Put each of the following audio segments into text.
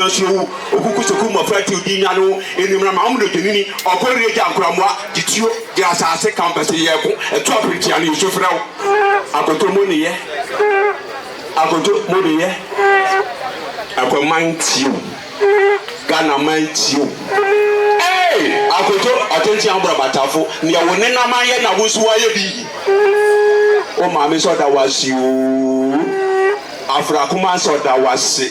no nso wu. Okuku sukuu mmofra tiw di nya no anim na ma wɔn odwennini, ɔko reyɛ gya nkoramoa de tuo de asase ka mpɛ sɛ yɛko ɛto apere tia no yesu frɛ wo akoto mo ne yɛ akoto mo ne yɛ akwaman tiw Ghana man tiw ee akoto ɔtenten abora batafo neɛ wo ne naman yɛ na wo nso wayɛ bi wo maame sɛ ɔda wase oo afra kuma sɛ ɔda wase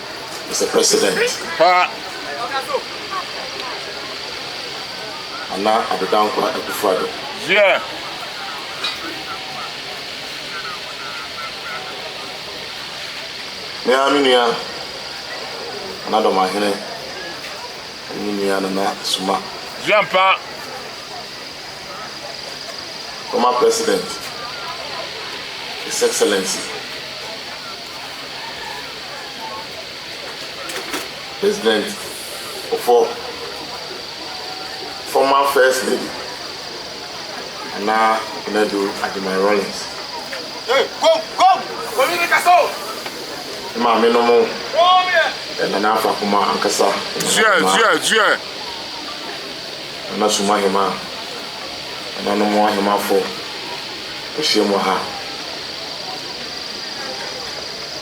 Mister President, Pa! Nana Addo Dankwa Akufo-Addo. Yea! Me ara me nua Nana Domahene ne me nua Nana Suma. Yea mpa! Former President, His Excellency. President Kufuor, former First Lady Nana Nadu Agyemang-Rawlings, ne maamenom Nana Afra Kumah ankasa, Nana Sum Ahemaa, nananom ahemafo ahyiam wɔ ha.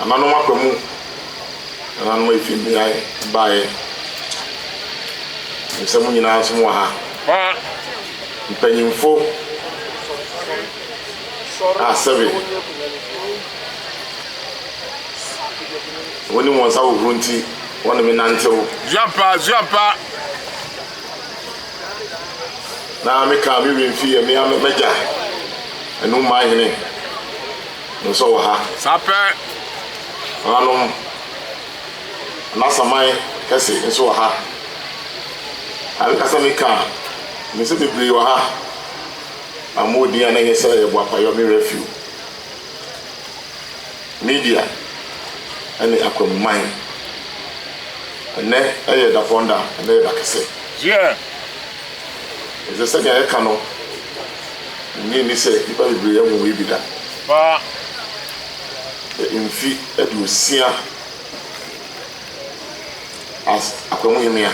Nananom aba mu, nananom a efi mmeae bae. Nim sɛ mo nyinaa nso mowɔ ha. Mpanyimfo a sɛbe wonim wɔn nsa hohoro nti, wɔne me nantew. Zuampa, Zuampa. Na meka me werɛ mfi yɛn mmea m'agya, Anum Mahene. Nso wɔ ha. Saa pɛ. Nananom Anasaman kɛse nso wɔ ha. Na me kasa mi ka a, minim sɛ bebree wɔ ha a mo wɔ din a na ɛnyɛ sɛ ɛyɛ boapayɔ, me werɛ afi o. Media ɛne akwamuman. Ɛnnɛ ɛyɛ Dapɔn da, ɛnnɛ yɛ da kɛse. Dear. Ɛsɛ sɛnea yɛka no. Nnye nni sɛ nnipa bebree ahu wei bi da. Fa mfe aduosia as Akwamuhemmea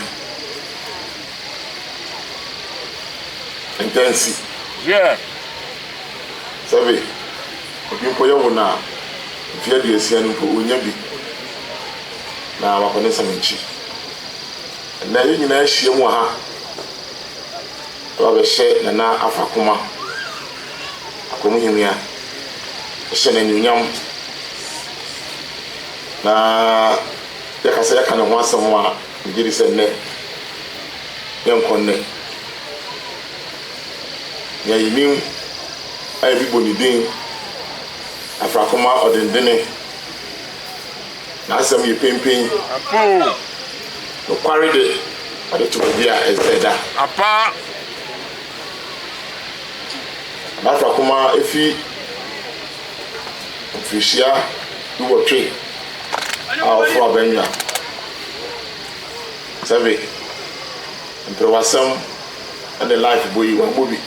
ntansi. Hwɛ! Sɛbe obi mpo yɛ wo no a, mfe aduosia no mpo onnya bi na wakɔ ne nsɛm akyi. Ɛnnɛ yɛn nyinaa ahyiam wɔ ha. Na wabɛhyɛ Nana Afakoma Akwamuhemia hyɛ no anuonyam. Na yɛka sɛ yɛka ne ho asɛm a, megye di sɛ nnɛ yɛnkɔ nnɛ. Nea yɛnim a yɛde bɔ ne din, Afrakoma Ɔdendene. N'asɛm yɛ penpen. Ampa o. Nokware de, ɔde to baabi a ɛsɛ sɛ ɛda. Ampa ara. Adaka koma efi mfirihyia duwɔtwe a ɔforo abannwa. Sɛbe, mprewasɛm ne life bɔ yi, wabɔ bi.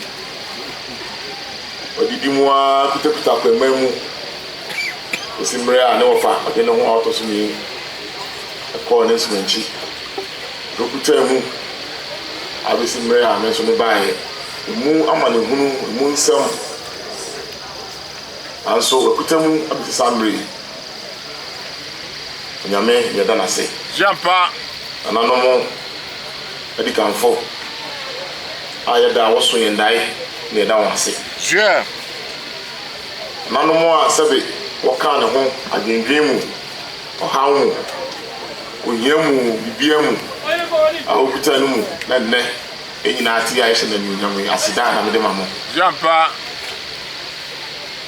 Wadidi mu ara kutakuta kwamma mu. kosi bere a ne wɔfa ɔde ne ho a ɔtɔ so mmienu kɔɔ ne nsumankyi abekotwaa mu abesi bere a me nso me baeɛ. Emu amanehunu, emu nsɛm, nanso wakuta mu abesi saa bere yi. Onyame na yɛda no ase. Gyampa nananom adikanfo a yɛda a wɔso yɛn dae na yɛda wɔn ase. Gyɛ. Nanom a sɛbe wɔkaa ne ho adwendwen mu, ɔhaw mu, ohia mu, biribiara mu a wokuta no mu na nnɛ yɛn nyinaa te yi a yɛhyɛ no anuonyam yi, aseda na mede ma mo. Gye ampa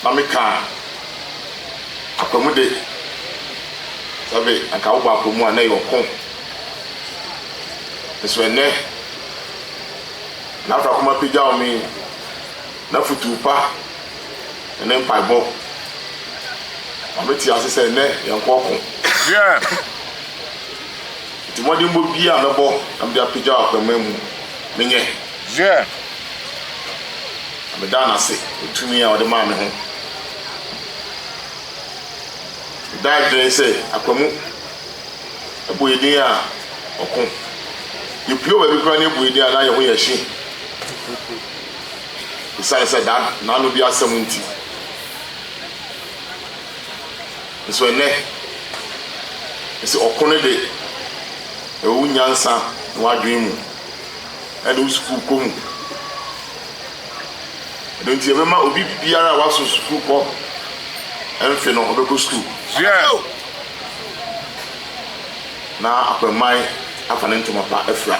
na meka akwamude, sɛbe anka wobɔ akwamu a na ɛyɛ ɔko, nso ɛnnɛ, na afrakoma apagyaw me. N'afotu pa ne ne mpaebɔ ma mete ase sɛ ɛnnɛ yɛnko ɔko. Enti mmɔdenbɔ biara a mɛbɔ na mede apagyaw akwamma mu menyɛ, na meda no ase wɔ tumi a ɔde maa me ho. Meda adwene sɛ akwamu bɔ yɛn din a, ɔko. Yɛpue wɔ baabi koraa na ɛbɔ yɛn din a, na yɛn ho yɛ hye. Esiane sɛ daa n'ano di asɛm nti nso, ɛnnɛ ese ɔko no de, ɛwɔ wo nyansa ne w'adwene mu, ɛne wo sukuukɔ mu. Ɛno nti, yɛbɛma obi biara a waso sukuukɔ mfe no, ɔbɛkɔ sukuu. Na akwanman afa ne ntoma pa afura.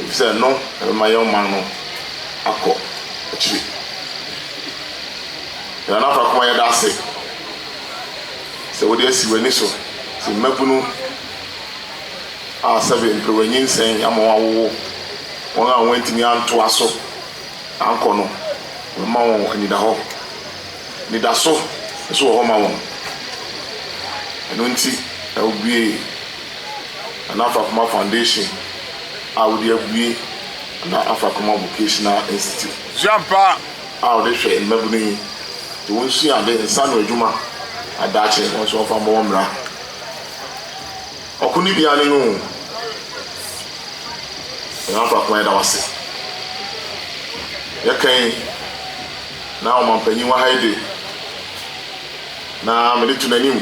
Efisɛ ɛno na ɛbɛma yɛn ɔman no akɔ akyiri. Yɛn Nana Fakoa yɛda ase sɛ wode asi w'ani so sɛ mmabunu a sɛbe mperewanyinsɛn ama wɔn awowo wɔn a wɔantumi antoa so ankɔ no wobɛma wɔn anidahɔ. Anidaso nso wɔ hɔ ma wɔn. Ɛno nti na wubuee. anaa Afakoma Foundation a wode abue anaa Afakoma Vocational Institute a wode hwɛ mmabunu yi de wɔn sua ade, nsa ano adwuma na daakye wɔn nso wɔmfa mmɔ wɔn bra. Ɔko ne bia ne no o. Yɛn Afakoma yɛda wo ase. Yɛka yi na ɔmampanyin wɔ ha yi de na mede to n'anim.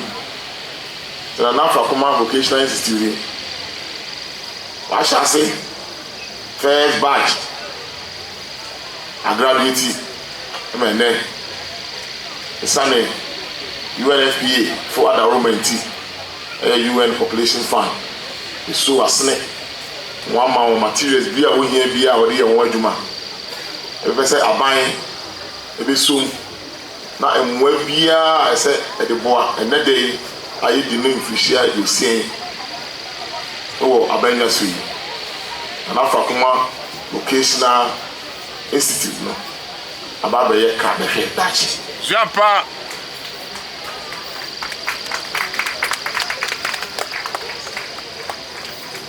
Tena Nafakoma Vocational Institute yi. W'ahyɛ ase first batch agraduate ma ɛnɛ. Ɛsane UNFPA fo adaworoma nti, ɛyɛ UN Population Fund ɛsu w'asene na w'ama wo materials bi a wohia biara a wɔde yɛ ho adwuma. Ɛbɛpɛ sɛ aban ɛbɛsom. Na mmoa biara a ɛsɛ ɛde boa ɛnnɛ da yi a yɛadi no mfirihyia aduosia yi wɔ Abanya so yi, na Nafakuma Vocational Institute no aba abɛyɛ ka bɛhwɛ daakye. Sua pa!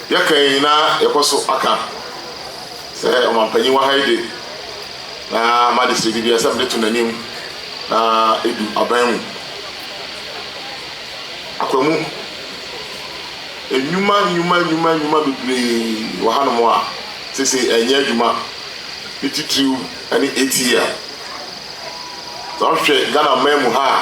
Yɛka yi na yɛkɔ so aka. Sɛ ɔmampanyin wɔ ha yi de, na magye sredi biara sɛ mede to n'anim na edu aban mu. Akwamu, nnwuma nnwuma nnwuma nnwuma bebree wɔ hanom a seesei ɛnyɛ adwuma, ne titiriw ne ATL. Sɛ wohwɛ Ghana man mu ha a,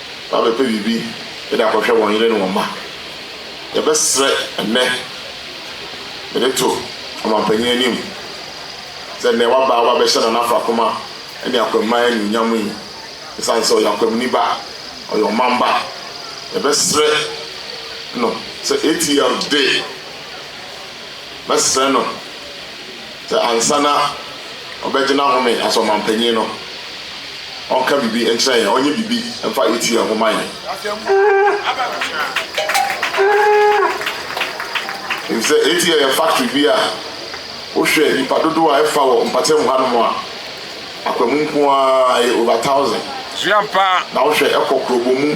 na wɔabɛpɛ biribi de akɔhwɛ wɔn yere ne wɔn mma. Yɛbɛsrɛ ɛnnɛ mede to ɔmampanyin anim sɛ nnɛ waba a wɔabɛhyɛ Nana Afrakoma ne Akwammaa anuonyam yi, esiane sɛ ɔyɛ Akwamni ba, ɔyɛ ɔman ba, yɛbɛsrɛ no sɛ ATL de, mɛsrɛ no. Sɛ ansa na ɔbɛgyina hɔ ne asɔrmanpanyin no, ɔnka biribi nkyerɛ yɛn, ɔnyɛ biribi mfa etie yɛn ho mma yɛn. Efisɛ etie yɛ yɛn factory bi a wohwɛ nnipa dodow a ɛfa wɔ mpɔtam hanom a, akwamu nko ara ɛyɛ over thousand. Na wohwɛ ɛkɔ kurobɔ mu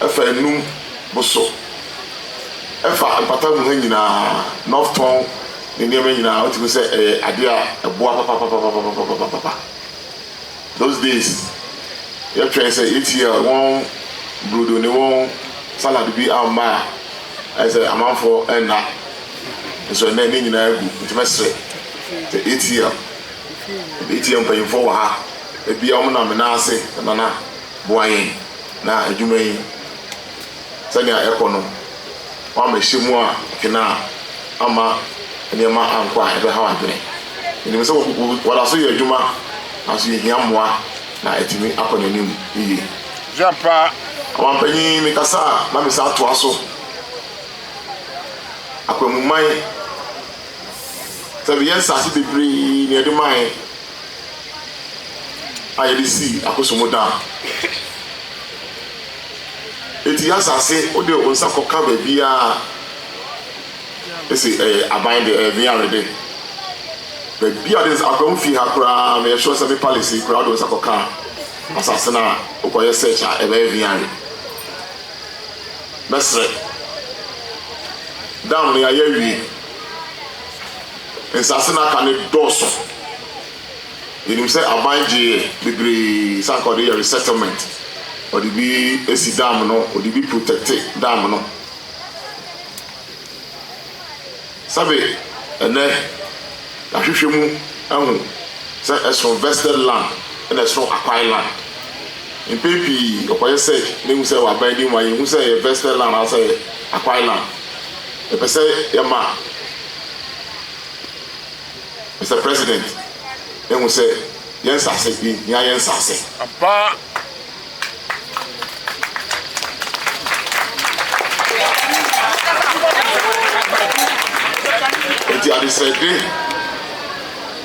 ɛfa anum boso. Ɛfa mpɔtam ha nyinaa, North Tɔn. ne nneɛma nyinaa wote mu sɛ ɛyɛ ade a ɛboa papapapapapapapa those days yɛtwɛn sɛ yɛtia wɔn brodo ne wɔn salad bi amma a ɛyɛ sɛ amanfoɔ ɛnna nso ɛnɛ ne nyinaa agu nti mɛsrɛ sɛ yɛtia yɛtia mpanyimfoɔ wɔ ha ebia wɔn nam nan ase nana boa yɛn na adwuma yi Sɛnea ɛkɔ no, wama ɛhyɛ mu a kena a amma nneɛma ankɔ a ɛbɛhaw adwene. Yenim sɛ wɔda so yɛ adwuma, nanso yehia mmoa na atumi akɔ n'anim yiye. Jean Paa, Ɔmampanyin, mekasa a na mesan atoa so akwanmuman sɛ meyɛ nsase bebree na yɛde mae a yɛde sii Akosombo Dam. Enti y'asase wode wo nsa kɔka baabiaa ese ɛyɛ aban de, ɛyɛ Veare de. Baabiaa wode nsa, Akwam fie ha koraa me yɛ sure sɛ me palace yi koraa wode wo nsa kɔka asase no a wokɔyɛ search a ɛbɛyɛ Veare. Mɛsrɛ. Dam no yayɛ awie. Nsase no aka no dɔɔso. Yɛnim sɛ aban gyee bebree sɛ anka ɔde yɛ resettlement, ɔde bi si dam no, ɔde bi protɛkte dam no. Sɛbe ɛnnɛ yɛahwehwɛ mu ahu sɛ ɛsono vested land na ɛsono acquired land. Mpɛn pii yɛkɔyɛ search na yɛhu sɛ wɔ aban anim a yɛnhu sɛ ɛyɛ vested land anaasɛ ɛyɛ acquired land. Yɛpɛ sɛ yɛma. Mister President, ehu sɛ yɛn nsase yi hia yɛn nsase. Ampa. Enti adesrɛden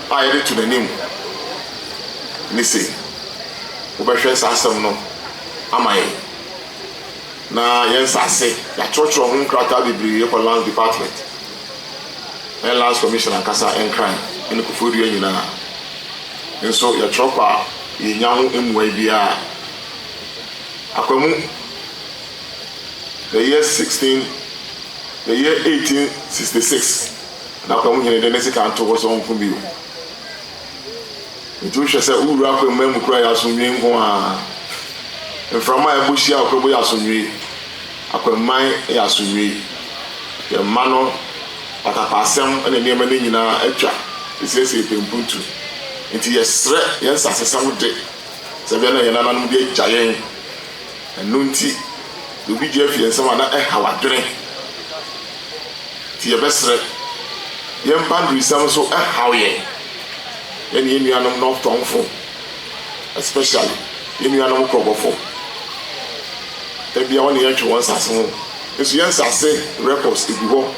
a yɛde to n'anim ne se, wobɛhwɛ saa asɛm no ama yɛn. Na yɛn nsa ase, yɛatwerɛtwerɛ ho nkrataa bebree kɔ Lands Department ne Lands Commission ankasa, Nkran ne Koforidua nyinaa. Nso yɛtwerɛ kɔ a, yɛnnya ho mmuae biara. Akwamu, the year 16, the year 1866 na Akwamu hene de ne sekan too hɔ sɛ ɔnko bio. Enti wohwɛ sɛ wo wura akwammaa mu kura yɛ asomdwoe nko ara. Mframa a ɛbɔ hyia a ɔkɔbɔ yɛ asomdwoe. Akwamman yɛ asomdwoe. Yɛn mma no, patapaasɛm ne nneɛma no nyinaa atwa sɛesɛe pɛmpuntu. Enti yɛsrɛ yɛn nsasesɛm de, sɛnea ɛbɛyɛ na yɛn nananom de agya yɛn. Ɛno nti, deɛ obi gye afi yɛn nsam a, na ɛhaw adwene. Nti yɛbɛsrɛ. Yɛn boundariesɛm nso ɛhaw yɛn. Yɛne yɛn nuanom Northtownfo, especially yɛn nuanom Krɔbɔfo, da biara wɔne yɛn ntwe wɔn nsase ho. Nso yɛn nsase records egu hɔ.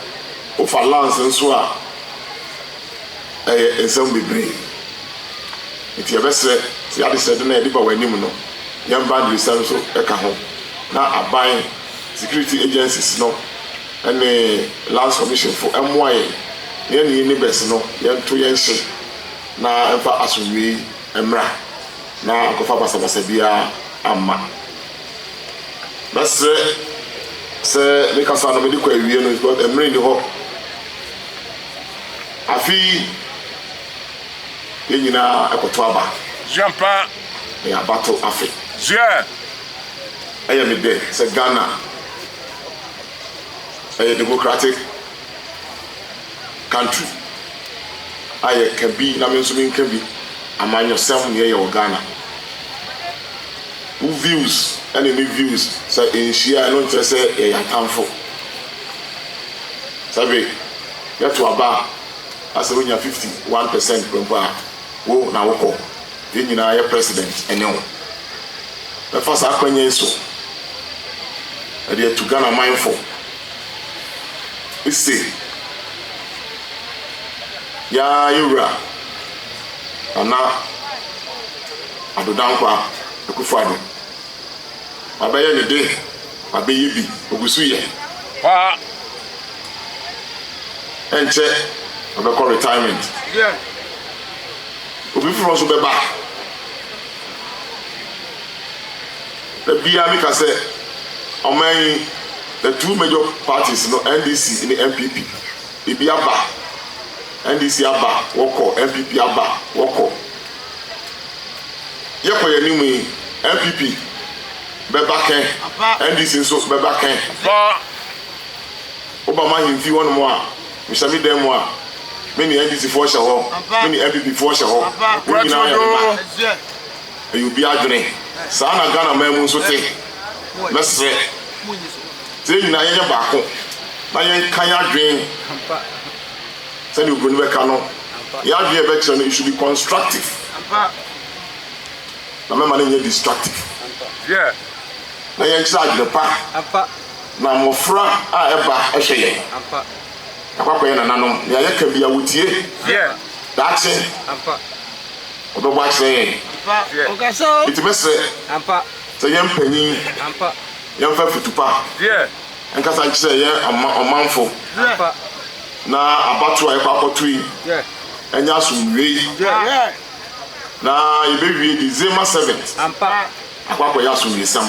Wofa lands nso a. ɛyɛ nsɛm bebree. Enti yɛbɛsrɛ sɛ adesrɛde no a yɛde ba wɔn anim no, yɛn boundaries no nso ka ho, na aban, security agencies no ne Lands Commission fo mmoa yɛn na yɛne yɛn neighbours no yɛnto yɛn hye na ɛmfa asomdwoe mmra na ankɔfa basabasa biara amma. Mɛsrɛ sɛ me kasa no mede kɔ awiei no because mmere nni hɔ. Afe yi, yɛn nyinaa ɛkɔto aba. Ziampa. Ɛyɛ abato afe. Zia. Ɛyɛ me dɛ sɛ Ghana ɛyɛ democratic country a yɛka bi na me nso menka bi, amanyɔsɛm nea ɛyɛ wɔ Ghana. Wo views ɛne me views sɛ ɛnhyia ɛno nkyerɛ sɛ yɛyɛ atamfo. Sɛ afei yɛto aba a, na sɛ wonya fifty one percent pɛ mpo a, wo na wokɔ. Yɛn nyinaa yɛ President ne wo. Mɛfa saa akwanya yi so de atu Ghana man fo se, yɛn ara yɛn wura Nana Addo Dankwa Akufo-Addo. Wabɛyɛ ne de, wabɛyɛ bi, ogu so yɛ paa. Ɛnkyɛ ɔbɛkɔ retirement. Obi foforɔ nso bɛba. Da biara meka sɛ ɔman yi, the two major parties no, NDC ne NPP, ebi aba, NDC aba, wɔkɔ, NPP aba, wɔkɔ. Yɛkɔ yɛn anim yi, NPP bɛba kɛ, NDC nso bɛba kɛ. Woba m'ahemfi hɔnom a, mehyɛ me dan mu a, me ne NDC foɔ hyɛ hɔ, me ne NPP foɔ hyɛ hɔ, wɔn nyinaa yɛ me mma. Ɛyɛ obi adwene. Saa na Ghana man mu nso te. Mɛsrɛ sɛ yɛn nyinaa yɛnyɛ baako na yɛnka yɛn adwene. sɛdeɛ obroni bɛka no yɛ adwene a ɛbɛkyerɛ no it should be constructive na mɛma no nyɛ destructive na yɛnkyerɛ adwene pa na mmɔfra a ɛba ɛhwɛ yɛn yɛakɔakɔ yɛ nananom nea yɛka bia wɔtie daakye ɔbɛbɔ akyerɛ yɛn nti mɛsrɛ sɛ yɛn mpanyin yɛmfa futupa Nkasa nkyerɛ yɛ ɔmanfo na abatoɔ a yɛkɔ akɔto yi ɛnyɛ asomdwoeɛ na yɛbɛwie December 7th akɔ akɔyɛ asomdwoesɛm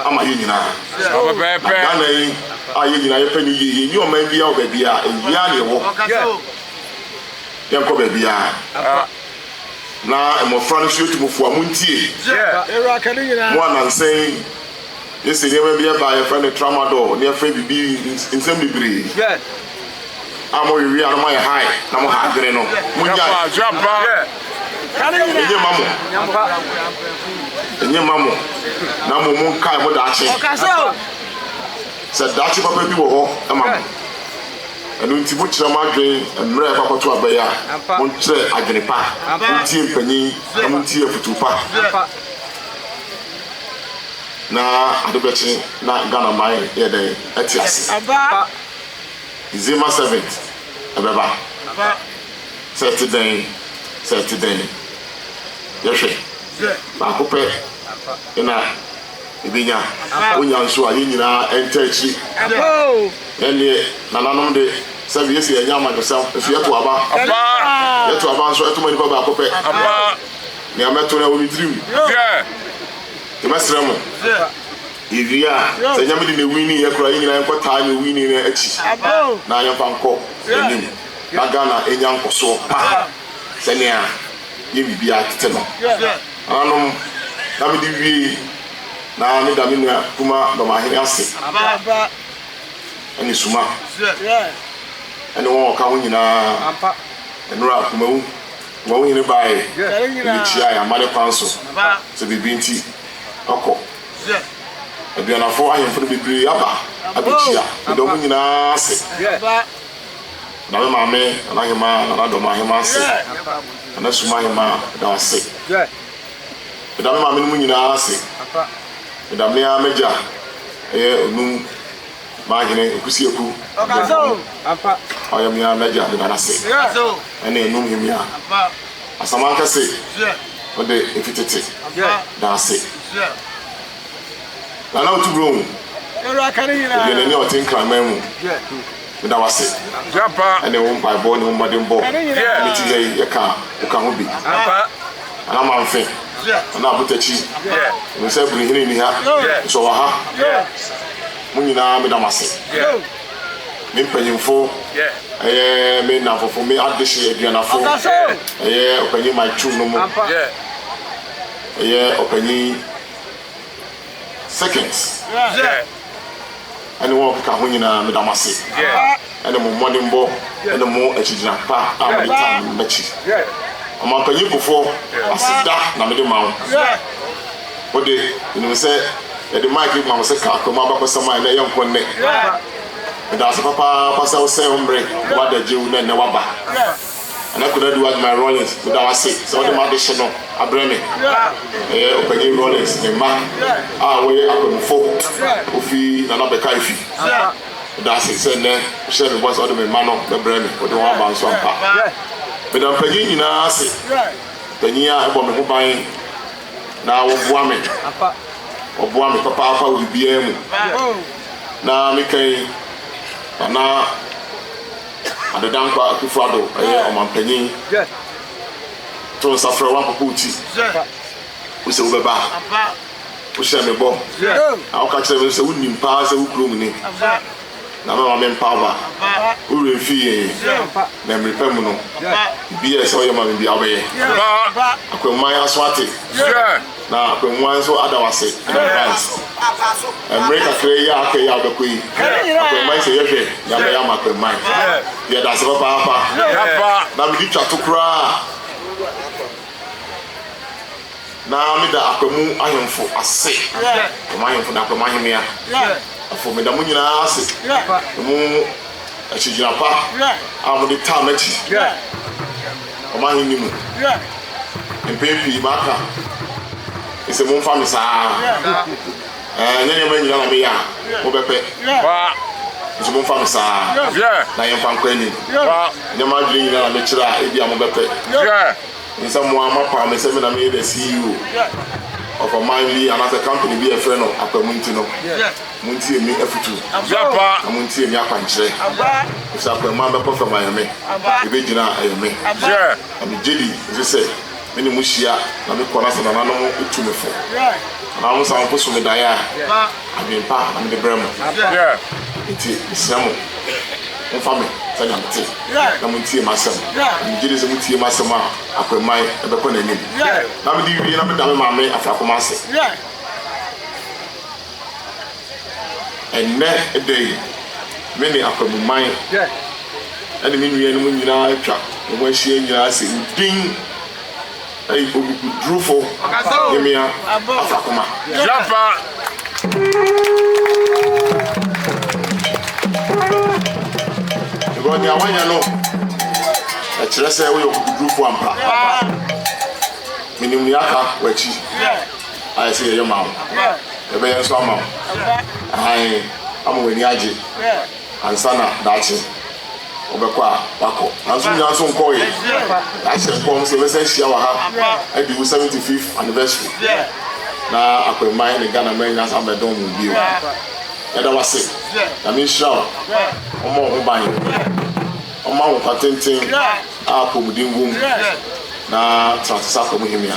ama yɛn nyinaa na Ghana yi a yɛn nyinaa yɛpɛ no yie yɛnyi ɔman biara wɔ baabiara ɛyi ara na ɛwɔ yɛnkɔ baabiara na mmɔfra no nso yɛtu mo fo a montie mo anansɛn Gye sɛ nneɛma bi ba a yɛfrɛ no tramadol ne yɛfrɛ biribi nsɛm bebree a mo wewe a na mo ayɛ high na mo ha adwene no mo nyae ɛnyɛ ma mo ɛnyɛ ma mo na mo mo nkae mo daakye sɛ daakye papa bi wɔ hɔ ma mo ɛno nti mo kyerɛ mo adwene mmerɛ ɛfa kɔto abɛyɛ a mo nkyerɛ adwene pa mo ntie mpanyin na mo ntie afutuo pa na ade bɛkye na Ghana man yɛ dɛn ɛte ase? December seventh ɛbɛba sɛ ɛte dɛn sɛ ɛte dɛn yɛhwɛ baako pɛ na ebenya wonya nso a yɛn nyinaa ɛnta akyiri yɛn deɛ nananom de sɛbi yɛsi yɛnyɛ amanyɔsɛm nso yɛto aba yɛto aba nso ɛtoma nipa baako pɛ Nea mɛto no ɛwɔ me tirim. Yɛbɛsrɛ mo. Yɛwie a, sɛ Nyame de na ɛwini yɛ koraa, yɛn nyinaa yɛnkɔ taa nea ɔwini no akyi na yɛmfa nkɔ anim na Ghana ɛnya nkɔsoɔ pa sɛnea yɛn biribiara tete no. Nananom, na mede wie yi na meda me nua Kuma Dɔmahene ase ɛne Suma ɛne wɔn ɔka ho nyinaa, Ɛnora Akumawu. Wɔn hene bae bebekyiae amanne kwan so sɛ biribi nti ɔkɔ. Aduanafo ahemfo no bebree aba abekyia. Medɔ mo nyinaa ase. Meda me maame Nana Ahemaa, Nana Dɔma Ahemaa ase, Nana Suma Ahemaa, meda wo ase. Meda me maamenom nyinaa ase. Meda me ara m'agya, ɛyɛ Onum M'ahene Ekusiaku bɔ mo ho. Ɔyɛ me ara m'agya meda no ase. Ɛna ɛnum he mia. Asamanka se wo de efi tete da ase. Nana Otubro ho obiɛ n'ani a ɔte Nkraman mu meda wo ase. Ɛne wo mpaebɔ ne wo mmɔdenbɔ ne tebea yi yɛka woka ho bi. anaa mamfe anaa abotakyi nim sɛ bere hene nni ha nso ɔwɔ ha mo nyinaa meda mo ase me mpanyimfo ɛyɛ me nnamfofo me adehye aduanafo ɛyɛ ɔpanyin my two no mo ɛyɛ ɔpanyin seconds ɛne wɔn a wɔkeka ho nyinaa, meda mo ase ɛne mo mmɔdenbɔ ɛne mo akyigyina pa a mode taa me no m'akyi. Ɔmampanyin Kufour, aseda na mede ma wo. Wo de, menim sɛ yɛde mic yi ma wo sɛ ka Akwam abakɔsɛm a ɛnɛ yɛ nko nnɛ. Meda wo ase papaapa sɛ wosɛe wo mmere na woadagyew na ɛnnɛ woaba. Nana Konadu Adjumai Rawlings, meda wo ase sɛ wode m'adehye no abrɛ me. Ɛyɛ Ɔpanyin Rawlings ne mma a wɔyɛ akwamufo, wofi Nana Bɛka Efi. Meda ase sɛ nnɛ wohyɛɛ me bɔ sɛ wode me mma no bɛbrɛ me, wode wɔn aba nso ampa. Meda mpanyin nyinaa ase, mpanyin a ɛbɔ me ho ban na wɔboa me, wɔboa me papaapa wɔ biribiara mu na me kan Nana. Adedankwa Akufo-Addo yɛ ɔmampanyin. To nsa frɛ w'akoko wo ti. Wo sɛ wobɛba. Wo hyɛ me bɔ. Na wo ka kyerɛ me sɛ wo nim paa sɛ wo kurom ni. Na mɛma me mpa aba. Wo werɛ mfi yɛn. Na mmere pa mu no, biribiara ɛsɛ ɔyɛ ma me biara wobɛyɛ. Akwamuman aso ate. Na Kwanguan nso ada wo ase na Bright. Mmere kakra yi a aka yi a wobɛkɔ yi, Akwanman sɛ yɛhwɛ nea wobɛyɛ ama Akwanman. Yɛda ase papaapa. Na medi twa to koraa na meda Akwamu ahemfo ase, Akwamu ahemfo ne Akwamu ahemmea fo. Meda mo nyinaa ase ne mo akyigyina pa a mode taa m'akyi. Wɔn ahenni mu. Mpɛn pii maka sɛ, Momfa me saa ara. Ɛnyɛ nneɛma nyinaa na meyɛ a mobɛpɛ, nso momfa me saa ara, na yɛmfa nkɔ anim. Ɛnyɛ m'adwene nyinaa na mekyerɛ a ebia mobɛpɛ. Ɛnyɛ sɛ mo ara moapaw me sɛ me na meyɛ the CEO of ɔman bi anaasɛ company bi a wɔfrɛ no Akwamu nti no. Montie me afotu, na montie me akwankyerɛ, ɛfiri sɛ akwammaa bɛkɔ fam ayɛ me, ɛbɛgyina a ɛyɛ me, na megye di nso sɛ me ne mo hyia na mekɔ na sɛ nananom tu me fo anaa wɔsan mpo so me daeɛ a, adwene pa na mede brɛ mo. Enti mesrɛ mo, momfa me sɛdeɛ mete, na montie m'asɛm, na megye di sɛ motie m'asɛm a, akwammaa bɛkɔ n'anim, na mede wie na meda me maame afrakoma ase. Ɛnnɛ da yi, me ne Akwabuman ne me nuanom nyinaa atwa wo ho ahyia nyinaa ase. Wo din ne Oguguturufo Hemmea Afakoma. Nea woayɛ no, ɛkyerɛ sɛ woyɛ ɔkoguturufo ampa. Menim nea aka w'akyi. ayɛ sɛ yɛyɛ ma wo yɛbɛyɛ nso ama wo ahan ama w'ani agye ansa na daakye wobɛkɔ a wakɔ nanso nyinaa nso nkɔɔ yɛ yɛahyɛ nkɔm sɛ yɛbɛsan hyia wɔ ha adi wo 75th anniversary na akwamman ne Ghana man nyinaa san bɛdɔn mu bio yɛda wase na menhyira wo ɔmmɔ wo ho ban ɔma wo nkwa tenten a apɔmuden wom na tra so sɛ akɔm hemea